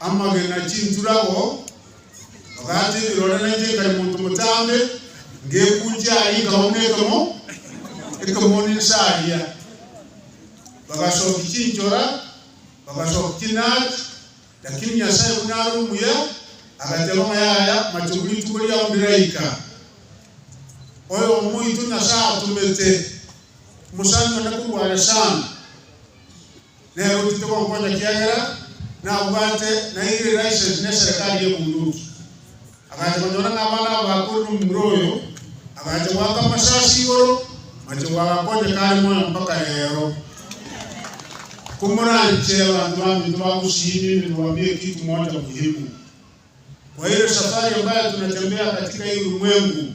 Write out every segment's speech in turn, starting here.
amagena, chinturago, ogati ebirore na inche nkare monto motambe, ngekunchia aria nkauma ekemo ekemo ninsa aria. Bagasokia chinchora, bagasokia chinati, lakini Nyasae buna are omuya, agateba ng'a yaya mache buri rituko riao ndiraika. Oyomo oito Nyasae atomete, omosani one korwa are sana. Nere otite gonkonya ekiagera nabwate naire eraiseni neserekari y'ebunduki. Agacha gonyora nabana aba bakorire omomura oyo, agacha goaka amasasi igoro, amachegwa agakonya kare moyo mpaka reero. Komoranche abanto baminto bagosiimia emegoa mi'ekitu mocha muhimu. Kwa hilo safari ambayo tunatembea katika hii ulimwengu,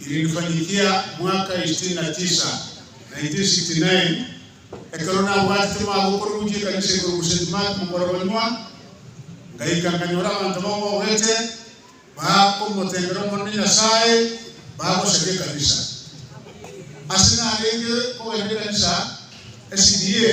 Ilinifanyikia mwaka isitini na tisa, 1969, ekero nabwatete omwaka okorurukia ekanisa igoro gose St-Mark mokorogonywa, ngaika nkanyora abanto bamogogete, bakomotengera Omonene Nyasae, bagosaria ekanisa. Ase narenge kogenda ekanisa, SDA,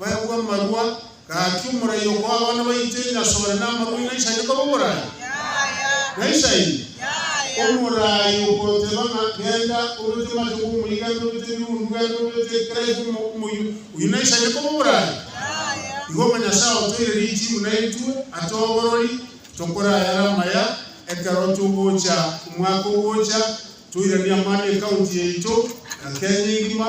Baegwe amarua, Gaki omorai okoa abana baito enyasore na amarua aino aisaine koba omorai? Naisaini? Omorai okoteba ng'a genda obete matogo omoyio, genda obete ebirundu, genda obete kera eke omo, omoyio, oyio naisaine koba omorai? Igo ng'a Nyasae otoire riiti buna intwe, atoe oborori, tokore ayare amaya, ekero togocha omwaka ogocha, toiranie amani ecounty yaito, na Kenya engima,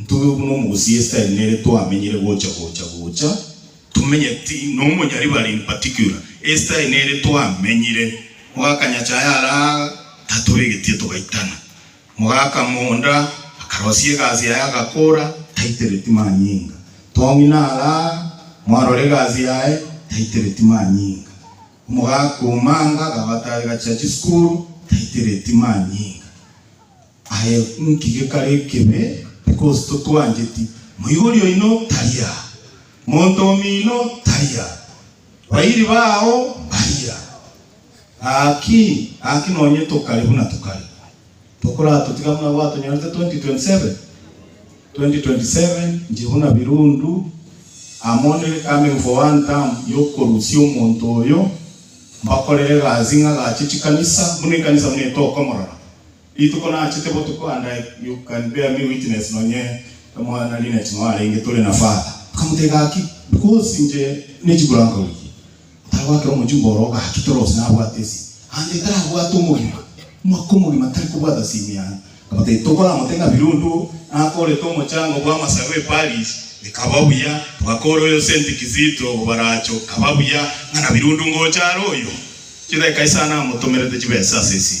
Ntuge buna omogusi Esteri nere twamenyire gocha gocha gocha tomenyeti nomonyari bare in particular Esteri nere twamenyire mogakanyacha aye ara tatobegetie togaitana mogaka monda akarosia egasi yaye agakora taitereti manyinga tong'ina ara mwarora egasi yaye taitereti manyinga omogaka omanga agabata agachia chisukuru taitereti manyinga Aye nki gekare ekebe? Because totwancheti. Moigori oino tari aa. Monto omino tari aa. Bairi bao mbari aa. Gaki, gaki nonye tokare buna tokare. Tokoratotiga buna gwatonyorete 2027? 2027 nche buna birundu amo ne coming for one term yokorusia omonto oyo, mbakorere egasi ng'agache chikanisa, buna ekanisa buna etokomorora. Rituko nachete botuko and I you can bear me witness nonye Emwana na Lynette noarenge tore na Father tokamotebia gaki because inche ne chibura nkaurigia otagwakera omochumba oroo gaki toro gose nabwate esimi and tarabwate omogima omwaka omogima tari kobwata simi yane nkamotebia tokoramote ng'a birundu oo nakorete omochango bwa amasagu e Paris ekaba buya togakora oyo Saint Kizito obaracho kaba buya ng'a na birundu ngocha are oyo chidageka isano namotomerete chibesa ase esimi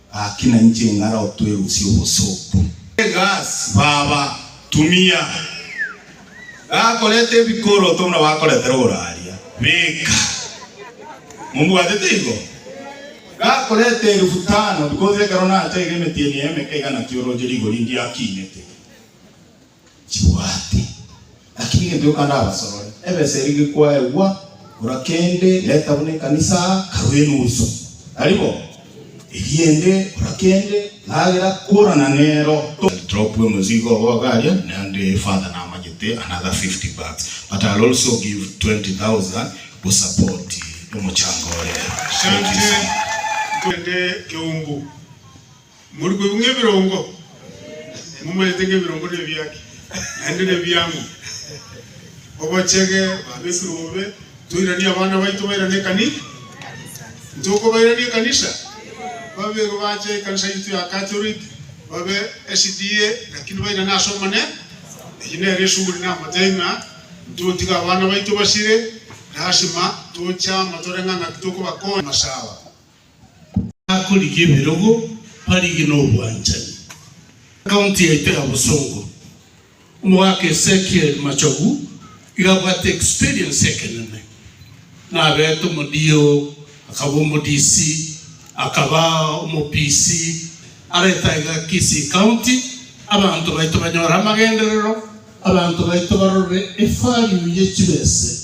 Gaki nainche ing'ara otwerusie obosooku. Egasi, Baba, tumia. Gakoreta ebikoroto buna bakoretera oraria, beka. Mombwatete igo? Gakoreta elifu tano, because ekero nacha iga emetienyi eye emeke iga natioroche rigori ndiakinete. chibwati. Lakini gento gioka ndabasorore, ebesa eria gekwaegwa korwa kende reta buna ekanisa karue enusu. Tari bo? Eriende korwa kende ragera korana nero. Don't drop omozigo obo iga aria, naende Father namanyete another 50 bags but I'll also give 20,000 go support omochango ore. Thank you so much. Asante, tugende keumbu. Mori koigwa ng'ebirongo? Momanyete ng'ebirongo nebiake, naende nebiang'u. Obochege Babesiri bobe, toiranie abana baito bairane ekanisa. Ntokobairania ekanisa? Babeirwe bache ekanisa yaito ya Catholic, babe SDA, lakini bairane ase Omonene. Eyio nere esuguri namotebi ng'a ntotiga abana baito basire, lasima toche amo toreng'a ng'aki tokobakonya. Amasaaba Bakorigia ebirogo, barigie nobwanchani. County yaito ya Bosongo. Omogaka Ezekiel Machogu iga abwate experience ekenene. Nabete omodio, akaba omo-DC, akaba omo-PC, arete aiga Kisii County abanto baito banyore amagenderero, abanto baito barore evalue ye chibese.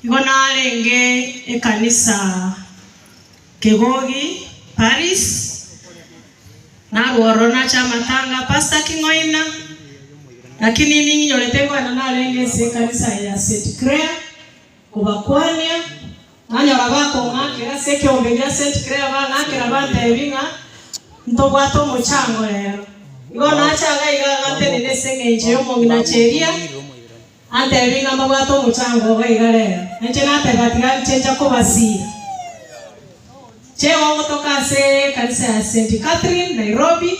Nigo narenge ekanisa Kegogi, Paris, narwo ororo nache amatanga a Pastor King'oina, lakini ning'inyorete ngoena narenge ense ekanisa ya Saint Claire kobakwania, nanyora bakong'akera ase ekeombe gia Saint Claire bang'akera bantebia ng'a ntobwate omochango rero. Nigo nache agaiga ng'a ntenene ase eng'encho y'omong'ina Cheria. Natebie ng'a mbabwate omochango obo iga rero, na inche natebe ati, Gaki chencha kobasiira. Chegwa omotoka ase ekanisa ya St. Catherine, Nairobi,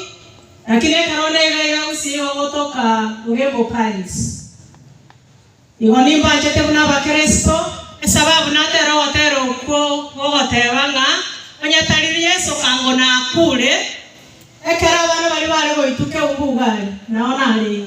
lakini ekero neiga iga gusii igo gotoka Ngembo Parish. Igo nimbanchete buna Abakristo, esababu natera ogotera okwo gogoteba ng'a onye tari Yeso ango nakuure, ekero abana baria bare goituka eungu iga are, nao narenge.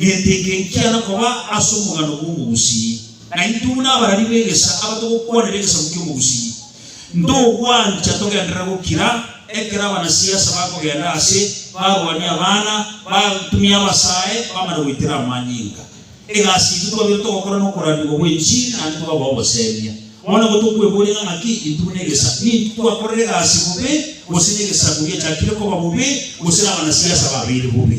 Gento eke nkiana koba ase omogano bw'omogusii, na intwe buna abarari b'egesa abatogokwanera egesaku ki'omogusii, ntogwancha togenderere gokira, ekero abanasiasa bakogenda aase, barwanie abana, batumie abasae, bamare goitera amanyinga. Egasi yaito twabeire togokora nokorandigwa gw'enchiri naende tobe ab'ogoseemia. Bono igo tokweboria ng'a ng'aki intwe buna egesa, nintwe twakorire egasi bobe, gose negesaku giachakire koba bobe, gose nabanasiasa babeire bobe?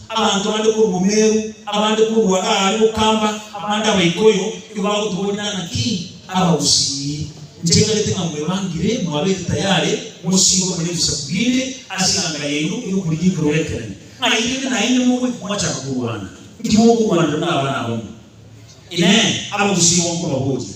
Abanto bande korwa Gomeru, abande korwa aare gokamba, abande abaikoyo, nigo bagotoboria naki abagusii. Ncheng'erete ng'a mwebangire, mwabeete tayari mosiirwe korwa ebisaku binde ase eganga yaino ey'okorigita orogekerane, ng'a erinde naende mobe mwachaka korwana, timogorwanera buna abana abamo. Inee! Abagusii igo nkobaboria?